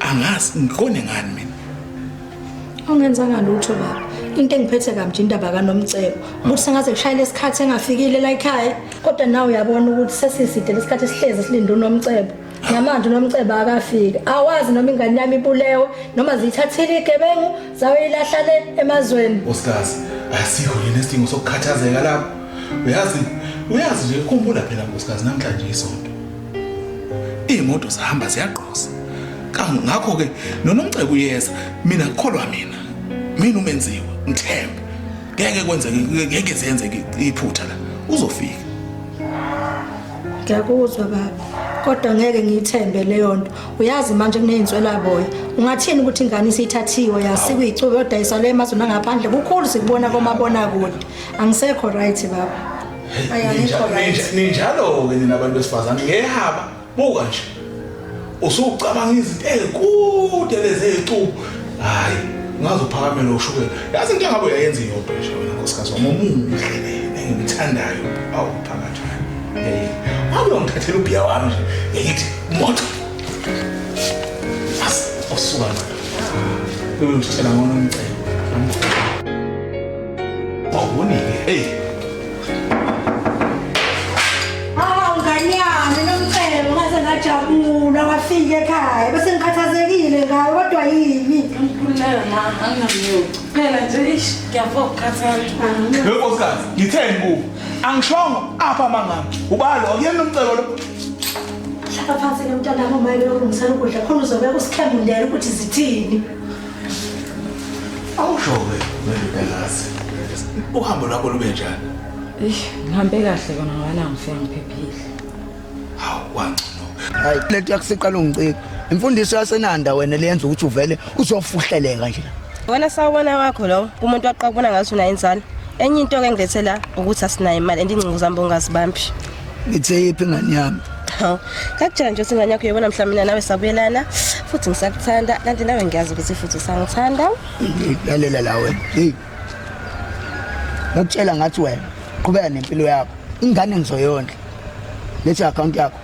angazi ngiqone ngani mina ungenzanga lutho baba into engiphethe kamnje indaba kanomcebo ukuthi sengaze kushayele isikhathi engafikile la ekhaya kodwa nawe uyabona ukuthi sesiside lesikhathi sihlezi silinde unomcebo namanje unomceba akafiki awazi noma ingane yami ibulewe noma ziyithathile igebengu zayoyilahla le emazweni osikazi asikho yini isidingo sokukhathazeka lapho uyazi uyazi nje khumbula phela nkosikazi namhlanje isonto iy'moto zihamba ziyagqoza ngakho-ke nonomceba uyeza mina kukholwa mina mina umenziwe ngithembe ngeke kwenzeke ngeke ziyenzeke iphutha la uzofika ngiyakuzwa baba kodwa ngeke ngiyithembe leyo nto uyazi manje kuneyinswelaboya ungathini ukuthi ingane isithathiwe yasikwa icuba yodayiswa le emazweni angaphandle kukhulu sikubona komabona kude angisekho right baba ninjalo-ke nina bantu besifazane ngehaba buka nje usucabanga izinto ezikude lezi ezicubu hayi ngaze uphakamele ushukela yazi into engabe uyayenza iyodwa nje wena nkosikazi wami omuhle engimthandayo awu phakathi hey ngabe ungithathela ubhiya wami nje ngithi moto as osuka la bebe ngitshela ngona umcebo awubonike hey Hawu ngane yami nomcebo ngaze ngajabula wafika ekhaya bese ngikhathazekile ngayo kodwa yini Ngikhululeka ma, anginamyoko. Phela nje ish, ngiyafo ukukhathala. Lo nkosikazi ngitheni kubo? Angishongo apha amangami. Ubalo akuyena umcebo lo. hlala phansi ke mntanami uma elokhu ngisana ukudla khona uzobeka usikhembundela ukuthi zithini Awusho-ke wendodakazi. Uhambo lwakho lube njani? Eish, ngihambe kahle kona ngoba la ngifika ngiphephile. Hawu wangcono. Hayi lento yakusiqala ungicika. Imfundiso yasenanda wena leyenza ukuthi uvele uzofuhleleka nje. Wena sawubona wakho lowo umuntu waqabona ngathi unayo inzalo. Enye into ke ngilethela ukuthi asinayo imali andingcingo zami bongazibambi. Ngithe yiphi ngani yami? Haw. Kakujela nje singane yakho yebona mhla mina nawe sabuyelana futhi ngisakuthanda kanti nawe ngiyazi ukuthi futhi usangithanda. Lalela la wena. Hey. Ngakutshela ngathi wena qhubeka nempilo yakho. Ingane ngizoyondla. Lethi account yakho.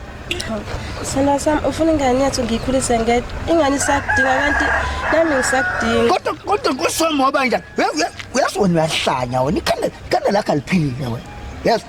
Sena sam ufuna ingane yethu ngiyikhulise ngedwa. Ingane isakudinga kanti nami ngisakudinga. Kodwa kodwa kusoma ngoba njani? Uyazi wena uyahlanya wena ikhanda ikhanda lakho aliphilile wena. Yazi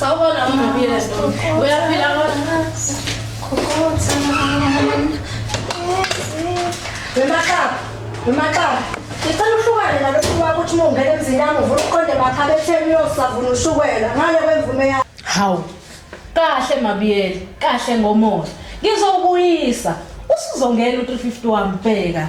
Sawubona umnqobile uyaphila kodwa wemaxaba wemaxaba ngicela uhlukane nalokhu kwakho ukuthi uma ungena emzini yami uvula uqonde makhabe etheni uyosavuna ushukela ngale kwemvume yakho hawu kahle mabiyele kahle ngomoya ngizokuyisa usuzongena u-350 wami bheka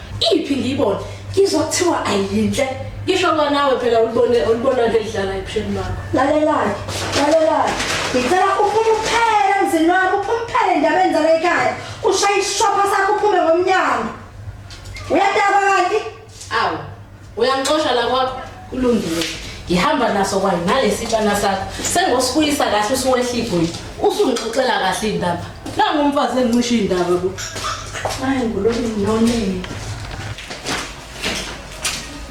Iphi ngiyibona? Ngizwa kuthiwa ayinhle. Ngisho kwanawe phela ulibone ulibona ke lidlala ebusheni bakho. Lalelani, lalelani. Ngicela uphume uphele emzini wami, uphume uphele endabeni zala ekhaya. Ushaye isishopha sakho uphume ngomnyango. Uyadaba kanti? Awu. Uyangixosha la kwakho kulungile. Ngihamba naso kwayi nalesitshana sakho. Sengosibuyisa kahle usuwehla igoli. Usungixoxela kahle indaba. Nangu umfazi engicisha indaba ku. Hayi ngulokhu nonini.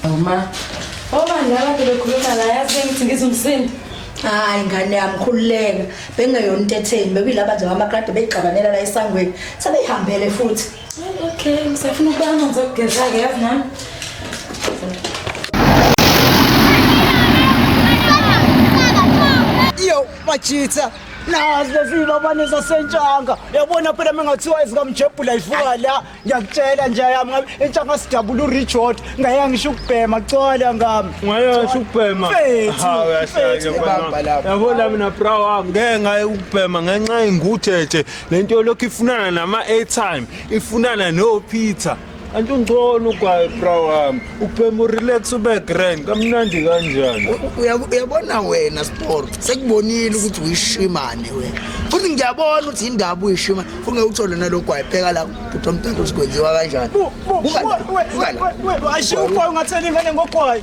Uma Oba ngaba bekhuluma la yazi bengithi ngizumsindo. hayi ngane yami khululeka bengeyona into etheni bekuyilaba nje bamakrade beyigxabanela la esangweni sebeyihambele futhi Okay, ngisafuna ukuba amanzi okugeza-ke yazi nami. Yo, bachitha. Nazi lezilobane zasentshanga. Yabona phela mengathiwa ezikamjebhula ivuka la. Ngiyakutshela nje yami ngabe intshanga sidabula uRichard. Ngaya ngisho ukubhema cola ngami. Ngayasho ukubhema. Mfethu, Ha, uyahlanya mfethu, mfana. ibamba lapho. Yabona mina bra wami ngeke ngaye ukubhema ngenxa yengutheje le nto yolokhu ifunana nama-airtime ifunana nopeter kanti ungcono ugwaye bra wami ubhema urelax ube grand kamnandi kanjani Uya- uyabona wena sport sekubonile ukuthi uyishimane wena futhi ngiyabona ukuthi yindaba uyishimane funge uthole nalogwayi pheka la bhuti omtata uzikwenziwa kanjani Buka la, buka la. ashiye ugwayi ungatheli ingane ngogwayi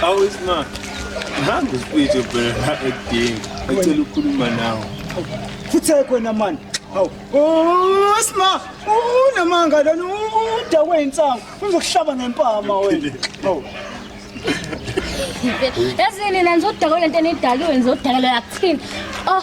How is ma? Ngihamba isipitsho phela la ekudingi. Ecela ukukhuluma nawe. Futhi ekhona mani. Hawu. Oh, sma. Unamanga lona udakwe insangu. Uzokuhlaba ngempama wena. Hawu. Yazini nani zodakwa lento enidalwe nizodakwa yakuthini. Oh,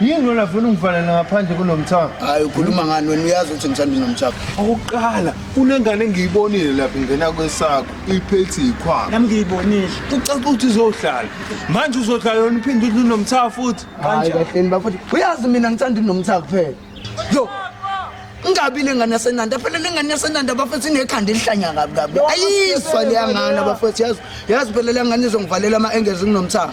Yini lona funa ungivalele ngaphandle kunomthamo? Hayi ukhuluma ngani wena uyazi ukuthi ngithanda unomthamo. Okokuqala kunengane engiyibonile lapha ingena kwesakho iphethi yikhwama. Nami ngiyibonile. Kucaca ukuthi uzohlala. Manje uzohlala yona uphinde uthi unomthamo futhi. Hayi kahleni bafowethu. Uyazi mina ngithanda unomthamo kuphela. Yo. Ingabi lengane yasenanda phela lengane yasenanda bafethu inekhanda elihlanya kabi kabi. Ayizwa leyangane bafethu yazi. Yazi phela lengane izongivalela ama engezi kunomthamo.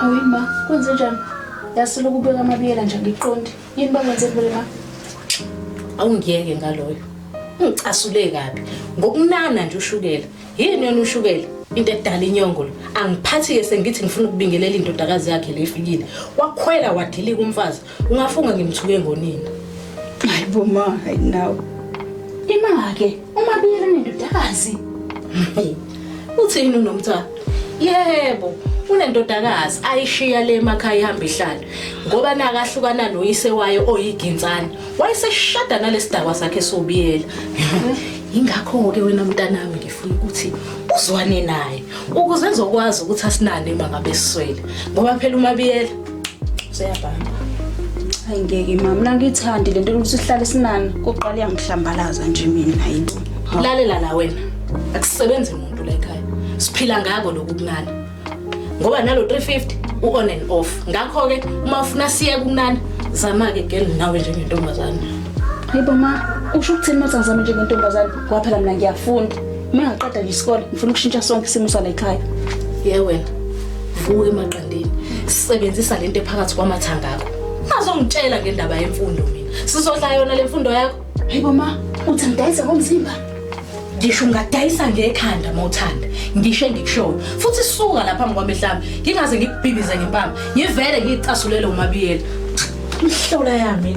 Hayi ma, kwenze njani? Yasilo kubeka amabiyela nje ngiqonde. Yini bakwenze kuwe ma? Awungiyeke ngaloyo. Ungicasule kabi. Ngokunana nje ushukela. Yini yona ushukela? Into edala inyongo lo. Angiphathi ke sengithi ngifuna ukubingelela indodakazi yakhe lefikile. Wakhwela wadilika umfazi. Ungafunga ngimthuke ngonina. Hayi bo ma, hayi nawe. Ima ke, uma biyela nendodakazi. Uthini unomthwalo? Yebo, unendodakazi ayishiya le emakhaya ihamba ihlala ngoba nakahlukana noyise wayo oyiginsana. Wayeseshada nalesidakwa sakhe sobiyela. Ingakho ke wena mntanami ngifuna ukuthi uzwane naye ukuze ezokwazi ukuthi asinane mangabe siswele ngoba phela umabiyela Seyabhamba. Hayi ngeke mama, mina ngithandi lento ukuthi sihlale sinani. Kuqala iyangihlambalaza nje mina hayi. Lalela la wena. Akusebenzi umuntu la ekhaya. Siphila ngako lokhu kunani. Ngoba nalo 350 u-on and off ngakho-ke uma ufuna siye kumnani zama-ke gel nawe njengentombazane yibo ma usho ukuthini uma sangizame njengentombazane kwaphela mina ngiyafunda uma ngiqeda nje isikole ngifuna ukushintsha sonke isimo sala ekhaya ye wena vuka emaqandeni sisebenzisa le nto ephakathi kwamathanga akho ungazongitshela ngendaba yemfundo mina sizodla yona le mfundo yakho hayi boma uthi ngidayise ngomzimba ngisho ungadayisa ngekhanda uma uthanda ngisho engikushoyo futhi suka lapha phambi kwami mhlawumbe ngingaze ngikubhibize ngempama ngivele ngiyicasulele umabiyela mhlola yami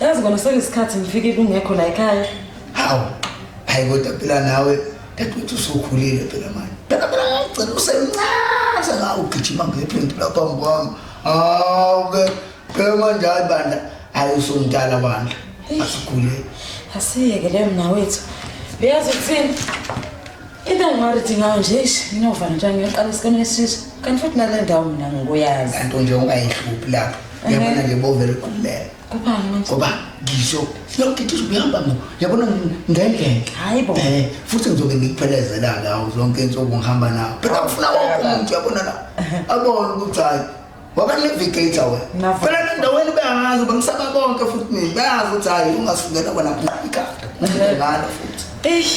Yazi kona sekuyisikhathi ngifike kungekho la ekhaya. Hawu. Hayi kodwa phela nawe dadewethu usukhulile phela manje. Phela phela ngicela usemncane sengawu gijima ngephindi lapha phambi kwami. Hawu ke phela manje hayi bandla hayi usumdala bandla. Asikhulile. Asiyeke leyo mna wethu. Uyazi ukuthini? Into engingarithi ngayo nje ish nginova nje ngiyoqala isikhona esisha. Kanti futhi nale ndawo mina ngikuyazi. Kanti nje ungayihluphi lapho. Yabona nje bovele kulela. kubani ngoba ngisho yonke into izokuyihamba ngo yabona ngendlela hayi bo eh futhi ngizoke ngikuphelezela la zonke insuku ngihamba nawo phela ngifuna wonke umuntu yabona la abona ukuthi hayi wabanevigate awe phela nendaweni beyangazi bengisaba konke futhi mina beyazi ukuthi hayi ungasukela kona ikhanda ngalo futhi eish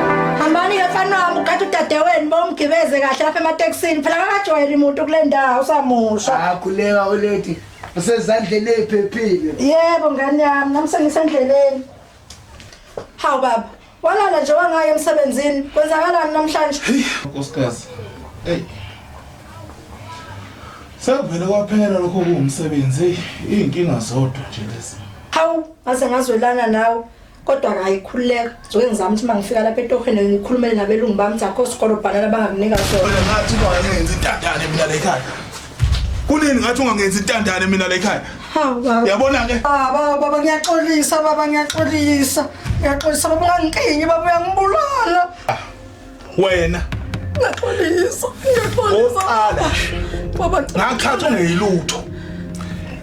Hambani ke mfana wami ukade udadewenu bomgibeze kahle lapha ematekisini phela akajwayeli umuntu kule ndawo usamusha. Akhuleka ulady usezandleni eziphephile. Yebo ngane yami nami sengisendleleni. Hawu baba walala nje wangaye emsebenzini kwenzakalani namhlanje? Nkosikazi. Hey. Sekuvele kwaphela lokho kuwumsebenzi, izinkinga zodwa nje lezi. Hawu ngaze ngazwelana nawe. kodwa akayikhululeka zoke ngizama ukuthi uma ngifika lapha etohweni ngikhulumele nabelungu bami ukuthi akho sikolo bhanana bangakunika sona ngathi ungangenzi intandane mina le khaya kunini ngathi ungangenzi intandane mina le khaya yabona ke baba baba ngiyaxolisa baba ngiyaxolisa ngiyaxolisa baba ungangikingi baba uyangibulala ah. wena ngiyaxolisa ngiyaxolisa oqala baba ngakhatha ungeyilutho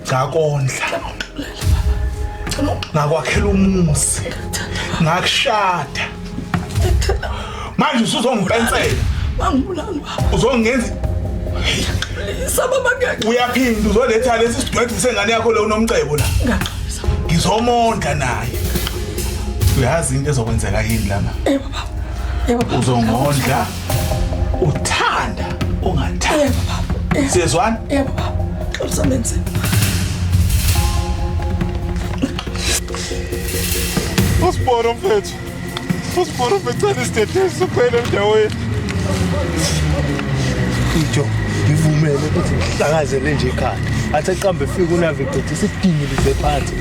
ngakondla ngakwakhela umuzi ngakushada manje usuzongipensela bangibulali baba uzongenza ngiyaxolisa baba ngiyaxolisa uyaphinda uzoletha lesi sidwedwe sengane yakho lo unomcebo la ngizomondla naye uyazi into ezokwenzeka yini lama uzongondla uthanda ungathanda siyezwana yebo baba xabisamenze usibona mfethu usibona mfethu cela isidedesi sokuphela endaweni ijo ngivumele ukuthi ngihlangazele nje ekhaya athi aqambe efika unavigcitha isidingilize phansi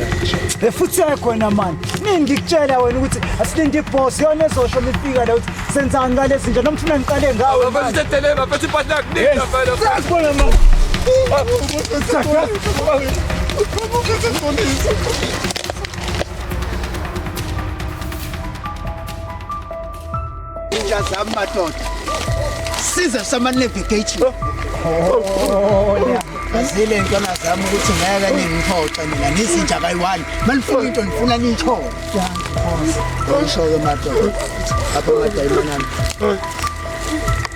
la efuthi yakhona mani Nini ngikutshela wena ukuthi asilinde iboss yona ezosho mifika la ukuthi senzani ngale zinja noma ufuna ngiqale ngawe. Bafethu tetele bafethu partner kuningi bafethu. Sasibona mama. Sakha. Inja zami madoda. Size sama navigation. Oh, oh, oh, Azile ntwana zami ukuthi ngeke ningiphoxe mina ngizinja kayi-one malifuna into ndifuna niyithole ngisho-ke madoda apho madayimana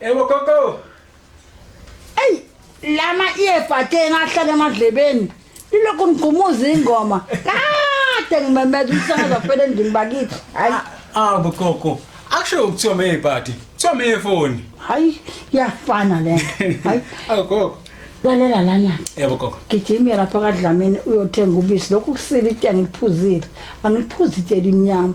Ewo gogo. Ey, lama earbuds ke ngahlala emadlebeni. Lilokhu ngigqumuza ingoma. Kade ngimemeza umsakazo phela endlini bakithi. Hayi. Ah, gogo. Akusho ukuthiwa me earbuds. Kuthiwa me earphone. Hayi, yafana le. Hayi. Agogo. lalela lana yebo gogo gijimya lapha kadlamini uyothenga ubisi lokhu kusile itshe angiliphuzile angiliphuzi itshe elimnyama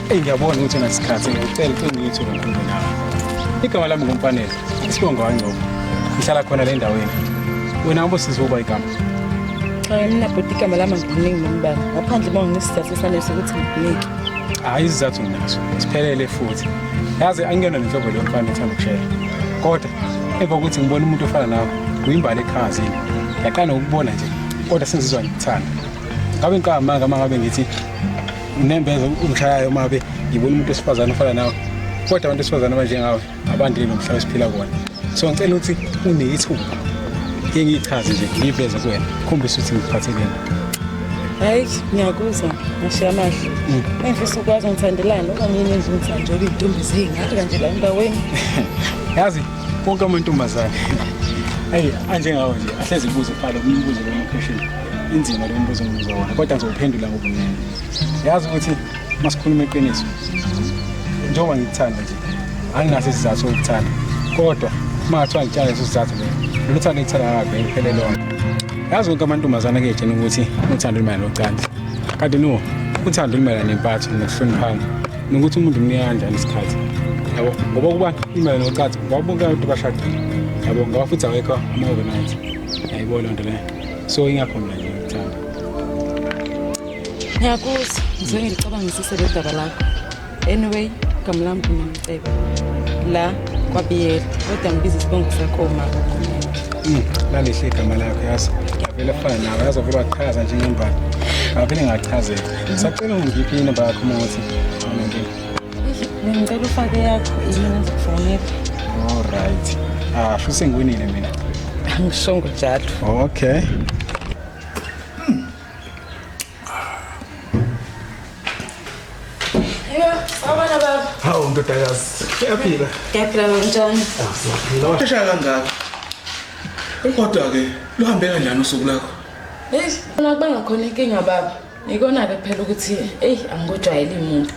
Eyi ngiyabona ukuthi nasikhathi ngicela uqiniso ngomkhulu nawe. Igama lami ngumfanele, isibongo wangcobo. Ngihlala khona le ndaweni. Wena ube sizoba igama. Cha mina bhuti igama lami ngikuningi nombala. Ngaphandle uma nginesizathu sanele sokuthi ngikunike. Hayi isizathu nginaso. Siphelele futhi. Yazi angiyona nenhlobo leyo mfana ethanda ukushela. Kodwa emva kokuthi ngibone umuntu ofana nawe, kuyimbali ekhazi. Yaqala ukubona nje kodwa sengizizwa ngikuthanda. Ngabe ngiqamba manga mangabe ngithi nginembeza umshayayo mabe ngibona umuntu wesifazane ofana nawe kodwa abantu besifazane abanjengawe abandile nomhlaba esiphila kuwona so ngicela ukuthi uneyithuba ke ngiyichaze nje ngiyiveze kuwena khombisa ukuthi ngiphatheleni hayi ngiyakuzwa ngashiya amahle mm. engifisa ukwazi ngithandelani okanye yini enje ngithandela iy'ntombi ziyingaka nje la endaweni yazi konke amantombazane eyi anjengawo nje ahlezi kubuze phalo kumbuze lomkheshini inzima lo mbuzo engibuza wona kodwa ngizowuphendula ngobumnene yazi ukuthi masikhuluma iqiniso njengoba ngikuthanda nje anginaso isizathu sokuthanda kodwa uma ngathiwa ngitshale leso sizathu leyo lolu thando engithanda ngakavele kuphele lona yazi konke amantombazane kuyetshena ukuthi uthando lumayelana nocansi kanti no uthando lumayelana nempatho nokuhloniphana nokuthi umuntu umnika kanjani isikhathi yabo ngoba ukuba lumayelana nocansi ngoba bonke abantu bashadile yabo ngoba futhi awekho ama-overnight yayibona loo nto leyo so ingakho mina nje ngikuthanda ngiyakuzwa ngizwe ngilicabangisise le daba lakho anyway igama lami kunomcebo la kwabiyela kodwa ngibiza isibongo sakho mama Mm, lalihle igama lakho yazi ngiyavele fana nawe yazi wavele wachaza nje ngembala ngavele ngachazeka sacela ungiphi inamba yakho uma ukuthi awunankinga Bengicela ufake yakho yini ngizokufowunela. All right. Ah, sho sengiwinile mina. Angishongo njalo. Okay. Hawu ndodakazi, uyaphila? Ngiyaphila kanjani? Shaya kangaka. Kodwa ke luhambe kanjani usuku lakho? Hey, ngibona kuba ngakhona inkinga baba. Ikona-ke phela ukuthi eyi angikujwayeli muntu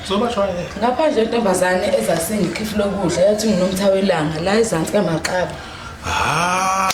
ngaphandle intombazane ezasengikhiphi lokudla yathi nginomtha welanga la ezansi kamaxaba ah,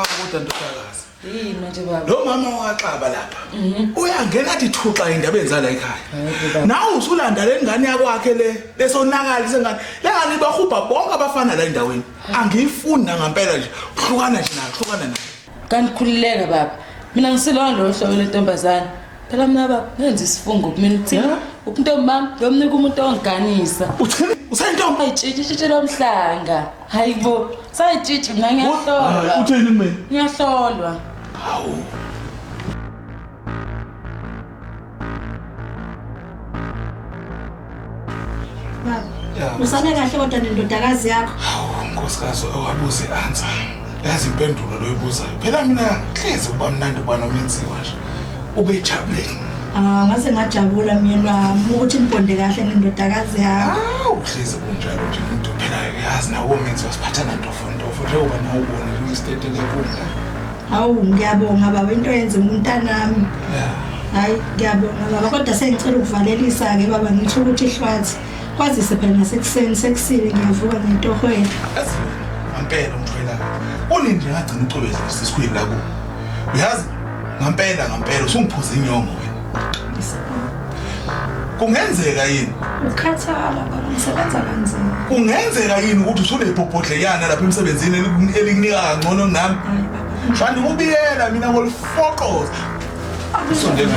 kodwa ndodakazi yini manje baba lo mama wakaxaba lapha mhm. uyangena athi thuxa indaba enzala ekhaya nawe usulanda le ngane yakwakhe le lesonakali sengane le ngane ibahubha bonke abafana la endaweni angiyifuni nangampela nje hlukana nje nayo hlukana nayo Kanti khulileka baba. Mina ngisilona lo hlobo lentombazana. Phela mina baba ngenza isifungo kumina ukuthi ubuntombi bami ngiyomnika umuntu ongiganisa. Uthini? Usentombi? Ayitshitshitshitshi lomhlanga. Hayibo. Sayitshitshi mina ngiyahlolwa. Uthini mina? Ngiyahlolwa. Hawu. usale kahle kodwa nendodakazi yakho hawu nkosikazi owabuze answer yazi impendulo loyibuzayo phela mina hlezi kuba mnandi ubana umenziwa nje ubejabule ah ngase ngajabula myeni wami ukuthi nibonde kahle nendodakazi yakho hawu hlezi kunjalo nje umuntu phela yazi nawo menziwa siphathana ntofo ntofo njengoba nawe ubona luyisitete lenkundla Hawu ngiyabonga baba into yenze umntanami. Hayi ngiyabonga baba kodwa sengicela ukuvalelisa ke baba ngithu ukuthi ihlwathi kwazise phela nasekuseni sekusile ngiyavuka ngetohweni. Ngampela umthwela. Unini nje ngagcina ucwebeza isikhwini la ku. Uyazi ngampela ngampela usungiphuza inyongo. kungenzeka yini ukhathala baba ngisebenza kanzima kungenzeka yini ukuthi usunebhobhodleyana lapha emsebenzini elikunika kangcono nami shandi kubiyela mina ngolifoqoza usondela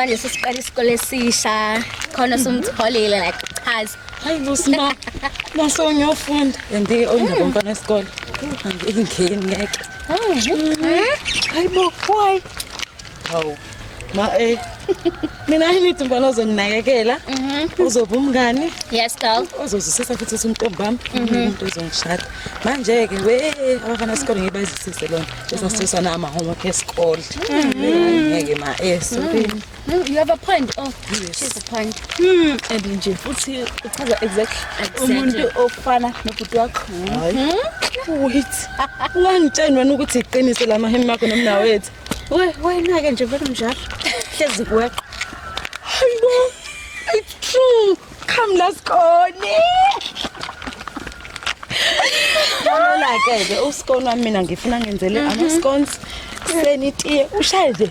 njengoba nje sesiqala isikole esisha khona somtholile like chaza hayi bosima naso ngiyofunda and oyindawo mfana esikole ingeni ngeke Hayi bo, why? Hawu. Ma eh. Mina ngithi mfana ozonginakekela. Mhm. Uzoba umngani. Yes girl. Ozozisisa futhi usuntombi bami. Mhm. Umuntu ozongishada. Manje ke we abafana sikole ngibazisise lona. Bese sisana ama homework esikole. Mhm. Ngeke ma eh sorry. No, you have a point. Oh, yes. she's a point. Hmm, and nje futhi uchaza exactly umuntu ofana nobhuti wakho. Hmm? Wait. Ungangitsheni wena ukuthi iqiniso lama hembe akho nomna wethu. We, wena ke nje vele mnjalo. Hlezi kuwe. Hayibo. It's true. Come let's go. Yabona ke ke uskona mina ngifuna ngenzele ama scones. Senitiye ushaye nje.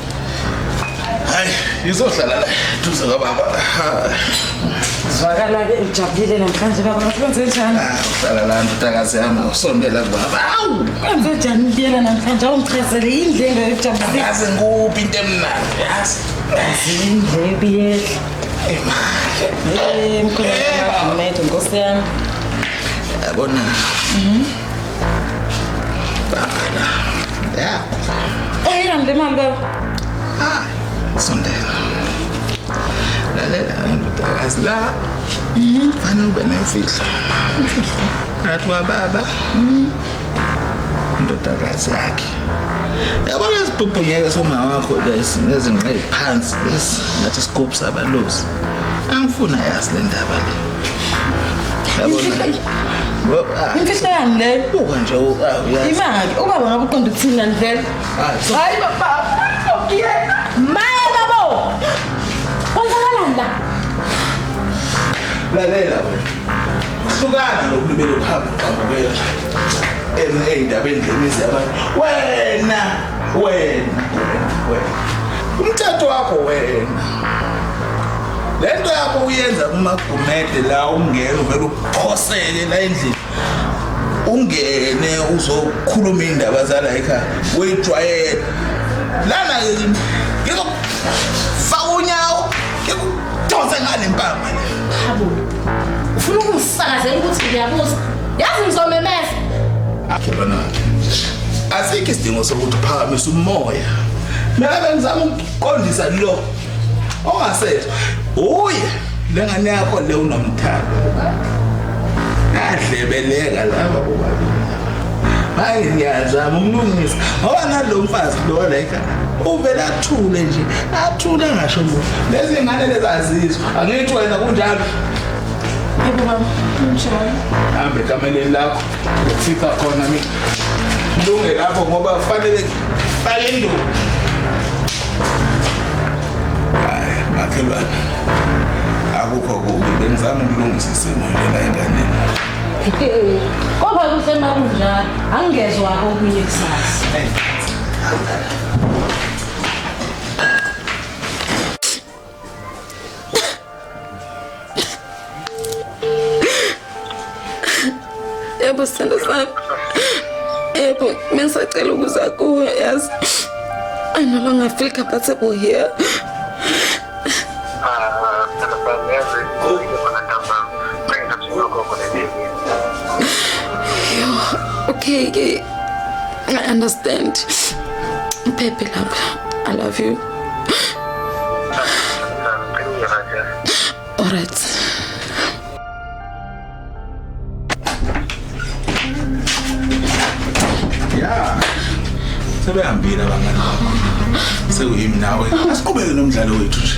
hayi ngizohlala la duze kababa zwakala ke ujabulile namhlanje baba ngakwenze njani ah, uhlala la ndodakazi yami usondela kubaba awu kwenze njani ubuyela namhlanje awungichazele yini le nto yokujabulisa yazi ngikuphi into emnandi yazi indlebe yehla imali eh mkhulu nkosi yami yabona mhm. Ayran değil mi abi? Sonde. La la la, ndoda kazi la. Fana ube nemfihlo. Ngathi wababa. Indodakazi yakhe. Yabona isibhubhunyeke somama wakho lesi nezinqe phansi lesi ngathi isikophu sabalozi. Angifuna yazi le ndaba le. imfihlo yani leyo buka nje imali ubaba ngabe uqonda ukuthini lani vele hayi baba maye babo kwenzakalani la lalela hlukana nokulubela ukuhamba uqambukela ey'ndabeni zemizi yabantu wena wena wena umthetho wakho wena le nto yakho uyenza kumagumede la ungena uvele uphoseke la endlini ungene uzokhuluma iy'ndaba zala ekhaya uyijwayela lana-ke kimi ngizokufaka unyawo ngikudonse ngale mpama le ufuna ukungisakazela ukuthi ngiyabuza yazi ngizomemeza akhe banakhe asikho isidingo sokuthi uphakamise umoya mina bengizama ukuqondisa lo ongasethi uye lengane yakho le unomthando adlebeleka laba bobabili hayi ngiyazama umlungisa ngoba nalo mfazi lo la ekhaya uvele athule nje athule ngasho lo lezi ngane lezazizwa angithi wena kunjalo yebo baba kunjalo hambe kameleni lakho ngifika khona mina lunge lapho ngoba kufanele bale nduku hayi makhelwane akukho kubi bengizama ukulungisa isimo lena enganeni kodwa kuhle uma kunjalo angingezwa okunye kusasa yebo sithando sami yebo mengisacela ukuza kuwe yazi i no longer feel comfortable here okay, okay. I understand. Baby, love, I love you. Alright. Yeah. Sebehambile abangani bakho. Sekuyimi nawe. Asiqhubeke nomdlalo wethu nje.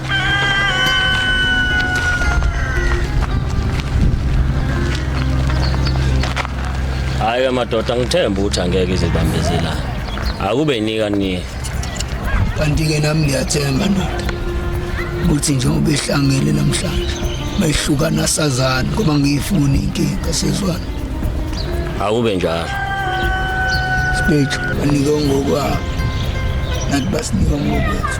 Hayi amadoda ngithemba ukuthi angeke izibambezela. Akube nika ni. Kanti ke nami ngiyathemba ndoda. Ukuthi njengoba ehlangene namhlanje bayihlukana sazana ngoba ngiyifuni inkinga sezwana. Akube njalo. Stage anike ngokwabo. Nathi basinike ngokwethu.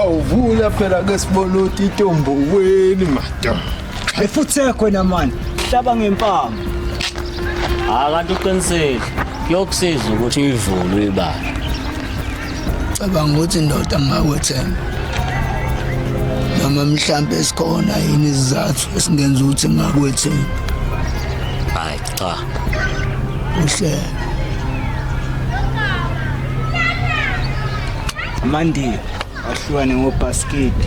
awuvula phela ke sibona ukuthi itomboweni madoda efuthi ekhona mani hlaba ngempama akanti uqinisile kuyokusiza ukuthi uyivule uyibala cabanga ukuthi indoda ngingakwethemba noma mhlampe sikhona yini izizathu esingenza ukuthi ngingakwethemba hayi cha uhle mandi ahlukane ngobhaskidi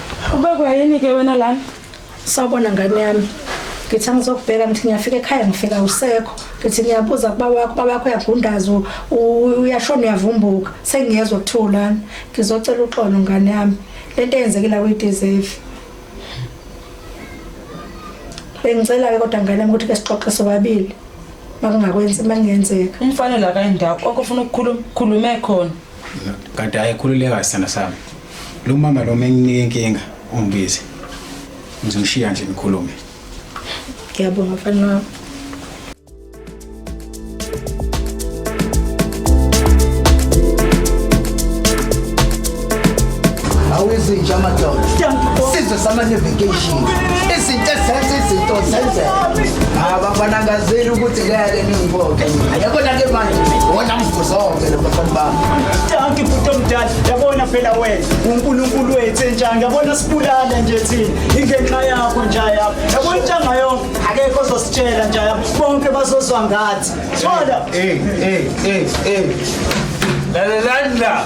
Ubekwa yini ke wena lana? Sawubona ngane yami. Ngithi angizokubheka ngithi ngiyafika ekhaya ngifika usekho. Ngithi ngiyabuza kuba wakho, baba wakho uyagundaza u- u- uyashona uyavumbuka. Sengiyezwa kuthiwa ulana. Ngizocela uxolo ngane yami. Lento eyenzekile akuyideserve. Bengicela ke kodwa ngane yami ukuthi ke sixoxe sobabili. Makungakwenzi makungenzeka. Umfana la kayindawo konke ufuna ukukhuluma khulume khona. kanti hayi khululeka sithanda sami lo mama lo menginike inkinga ungibize ngizomshiya nje ngikhulume ngiyabonga mfana wami awezinja amadoda sizwe samane vacation izinto ezenza izinto zenzeka abafana ngazeli ukuthi ngeke ningivote yabo nake manje wona mvuzoke lo bafana bami tanki futhi omdala yabona phela wena uNkulunkulu wethu enjani yabona sibulala nje thina ingenxa yakho nje yabo yabona intanga yonke akekho ozositshela nje yabo bonke bazozwa ngathi thola eh eh eh eh la la la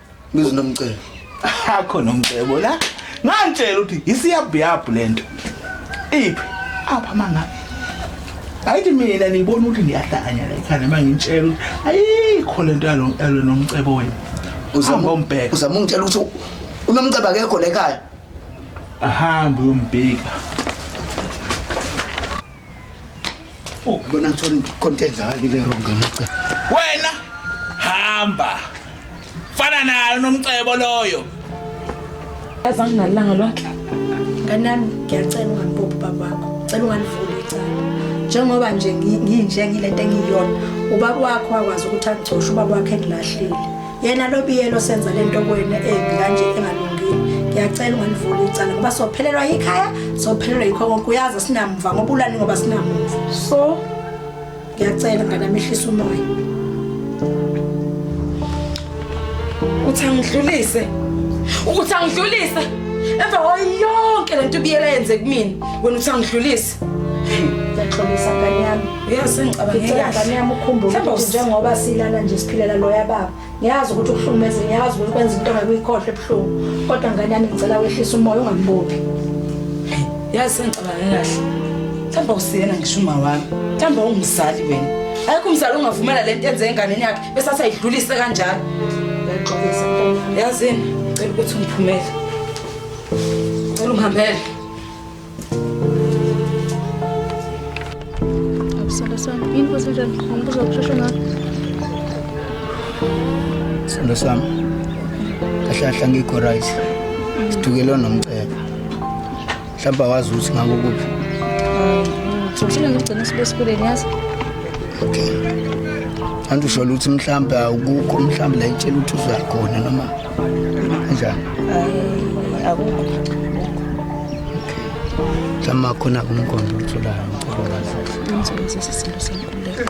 Bizi nomcebo. Akho nomcebo la. Ngantshela ukuthi isiyabhiyabhu lento. Iphi? Apha manga. Ayithi mina nibona ukuthi ngiyahlanya la ekhanda mangintshela ukuthi ayikho lento yalo yalo nomcebo wena. Uzama umbheka. Uzama ungitshela ukuthi unomcebo akekho la ekhaya. Ahamba uyombheka. Oh, lona ngithola inkonteza halile wrong ngica. Wena hamba. Fana nayo nomcebo loyo. Yazi anginalanga lonke. Kanami ngiyacela ungambophi baba wakho. Cela ungalivuli icala. Njengoba nje nginje ngilento engiyona. Ubaba wakho wakwazi ukuthi agcoshe ubaba wakhe engilahlile. yena lobiyelo senza lento kwena embi kanje engalungile ngiyacela ungalivula icala ngoba sophelelwa yikhaya sophelelwa yikho konke uyazi sinamva ngoba ulani ngoba sinamumva so ngiyacela nganamehlisa umoya uthi angidlulise ukuthi angidlulise emva kwayo yonke lento ubiyela yenze kumina wena uthi angidlulise Ngiyaxolisa ngane yami. Uyazi ngicabangela. Ngicela ngane yami ukhumbule ukuthi njengoba silana nje siphilela loya baba. Ngiyazi ukuthi ukuhlukumeza ngiyazi ukuthi kwenza into ngekuyikhohle ebuhlungu. Kodwa ngane yami ngicela wehlisa umoya ungambophi. Yazi ngicabangela kahle. Thamba usiyena ngisho uma wami. Thamba ungumzali wena. Ayikho umzali ongavumela lento enze enganeni yakhe bese asayidlulise kanjalo. Ngiyaxolisa. Yazini, ngicela ukuthi ungiphumele. Ngicela ungihambele. Abisalo sami, yini futhi njani? Angibuza ukushesha ngakho. Sithando sami. Kahle kahle ngikho right. Sidukelwa nomcebo. Mhlawumbe awazi ukuthi ngako kuphi. Ngithusile ngigcina sibe esikoleni yazi. Okay. Angisho ukuthi mhlawumbe awukukho mhlawumbe la itshela ukuthi uzakhona noma Njani? Akukho. Tama khona kumkhondo utholayo ngicela wazi. Ngizokwenza isicelo senkululeko.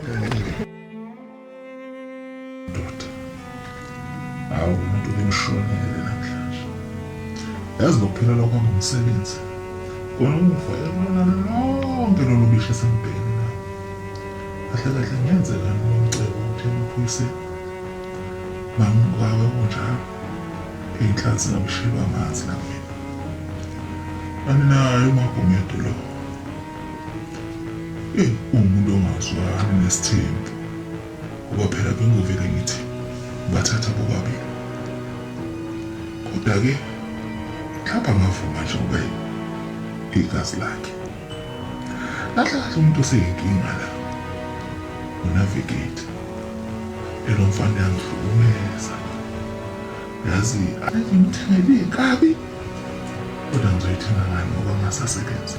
Hawu umuntu bemshonele namhlanje. Yazi lokuphelelwa kwami umsebenzi. Kona umufa yabona lonke lolu bishe sembheni nami. Kahle kahle ngenzekani nomcebo ukuthi emaphoyiseni Ngangibukawe kunjalo iy'nhlanzi zingamshiywa amanzi namina aninayo umagumedu lo eyi uwumuntu ongazwani nesithembu ngoba phela bengivele ngithi bathatha bobabili kodwa-ke mhlawumbe angavuma nje ngoba igazi lakhe Kahle kahle umuntu oseyinkinga la unavigate elo mfana yangihlukumeza yazi athi ngithele kabi kodwa ngizoyithenga ngani ngoba ngasasebenza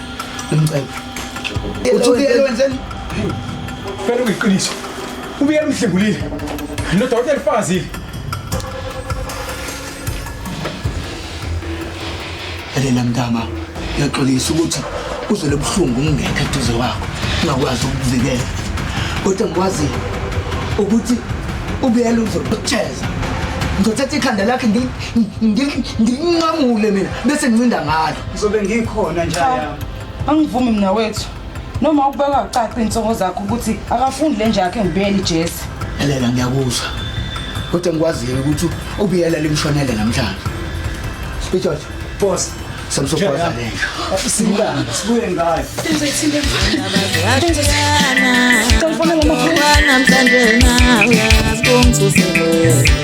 Ngimcela. Uthi ubiyela wenzeni? Phela uyiqiniso. Ubiyela umhlengulile. Lo dokotela ufazile. Elela mntama, ngiyaxolisa ukuthi uzwe lobuhlungu ungekho eduze wakho, ungakwazi ukukuvikela. Kodwa ngikwazi ukuthi ubiyela uzokucheza. Ngizothatha ikhanda lakhe ngilinqamule mina bese ngincinda ngalo. Ngizobe ngikhona nja yami. Angivumi mina wethu. Noma ukubeka ucaca insongo zakho ukuthi akafundi le nje yakhe ngibuyele iJesi. Elela ngiyakuzwa. Kodwa ngikwaziyo ukuthi ubiyela limshonele namhlanje. Sijojo. Boss. Samsokwaza le. Sibuyana, sibuye ngayo. Senze thina. Senze thina. Tolfona ngomkhulu namhlanje na uyazi kumthuselwe.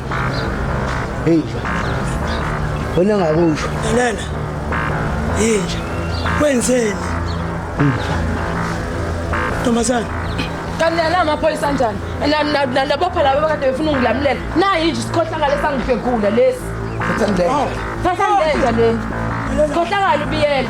Hey. Wena ngakusho. Nana. Yinja. Wenzeni? Ntombazana. Kanti nala amaphoyisa anjani? Nalabopha laba kade befuna ungilamulela. Nayi nje isikhohlakala esangibhekula lesi. Thathandela. Oh. Thathandela le. Sikhohlakala ubiyela.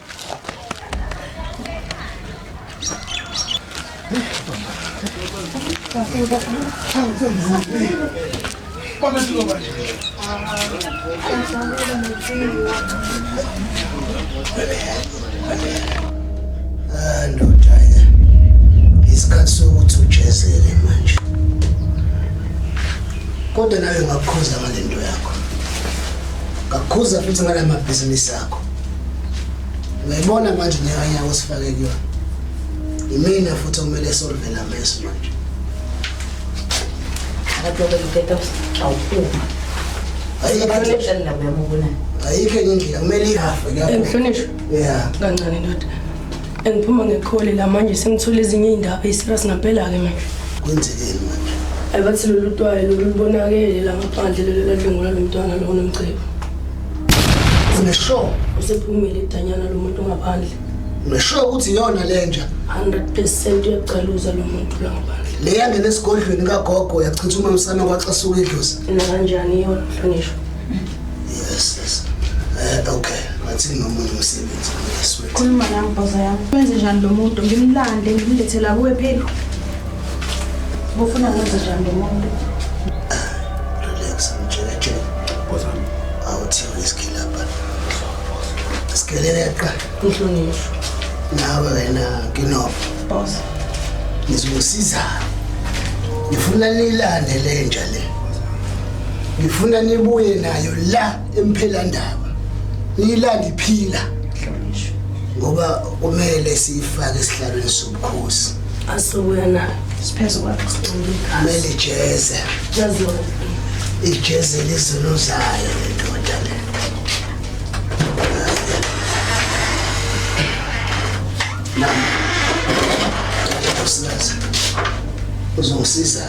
Ah, ndoda eh. isikhathi sokuthi ujezele manje kodwa nawe ngakukhuza ngale nto yakho ngakukhuza futhi ngala mabhizinisi akho uyayibona manje nyakanyaka osifake kuyona imina futhi okumele solivela meso manje ayikho enye indlela kumele ihafe kuyahlonishwa ya kancane ndoda Engiphuma ngekhole la manje sengithola ezinye iy'ndaba ey'serious ngampela-ke manje. Kwenzekeni manje? Ayi bathi lolu twayi lolu lubonakele la ngaphandle lolu eladlwengula lo mntwana lo onomcebo. Uneshow? Usephumile idanyana lo muntu ngaphandle. Uneshow ukuthi iyona le nja? 100 percent uyagcaluza lo muntu la ngaphandle. Le yangena esigodlweni kagogo yachitha umamsana kwaxasuka idlozi. Nakanjani iyona mhlonishwa? Yes, yes. Eh, okay. Ngathi nginomuntu umsebenzi ngeswethi. Khuluma nami boza yami. Wenze njani lo muntu? Ngimlande, ngimlethela kuwe phela. Ngofuna ngenze njani lo muntu? Relax, mtshela tshela. Boza yami. Awuthi uyiskila lapha. Sikelele qha. Ngihlonishwa. Nawe wena nginobo. Boza. Ngizosiza. Ngifuna nilande lenja le. ngifuna nibuye nayo la emphelandaba niyilande iphila ngoba kumele siyifake esihlalweni sobukhosi asubuya nayo siphezu kwakho kumele ijeze ijeze lizulu zayo lendoda le nami uzongisiza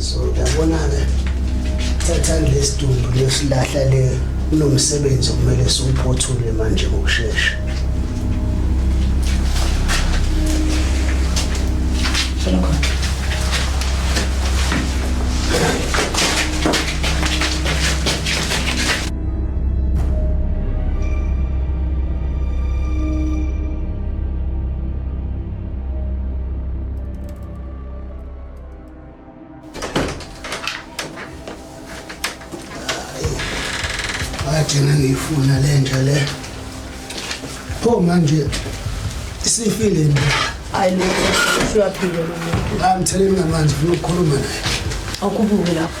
so yabona-ke thathani lesidumbu lesilahla le kunomsebenzi okumele siwuphothule manje ngokushesha agcina ngiyifuna le nja le pho manje isifile nje hayi lo usuyaphila lo muntu ngamtheleni ngamanzi funa ukukhuluma naye awukhuphuke lapho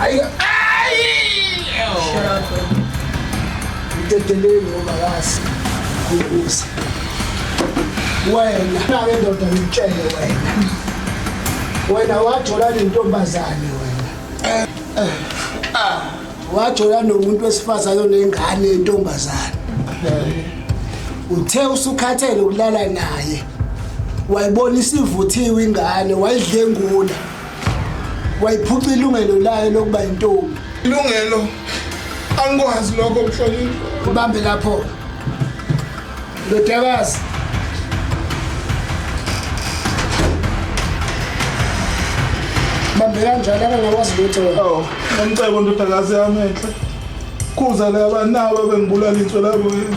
Ayi. Udedeleni ngoba kazi. Ukuza. Wena, nawe ndoda ngitshele wena. Wena wathola lentombazane wena. Ah. Wathola nomuntu wesifazane onengane yentombazane. Uthe usukhathele ukulala naye. Wayibona isivuthiwe ingane, wayidlengula. wayiphuca ilungelo layo lokuba yintombi ilungelo angikwazi lokho mhlonipho ubambe lapho ndodakazi bambe kanjalo akangakwazi lutho awu ngicebo ndodakazi yami enhle khuza laba nawe bengibulala intswelabo yini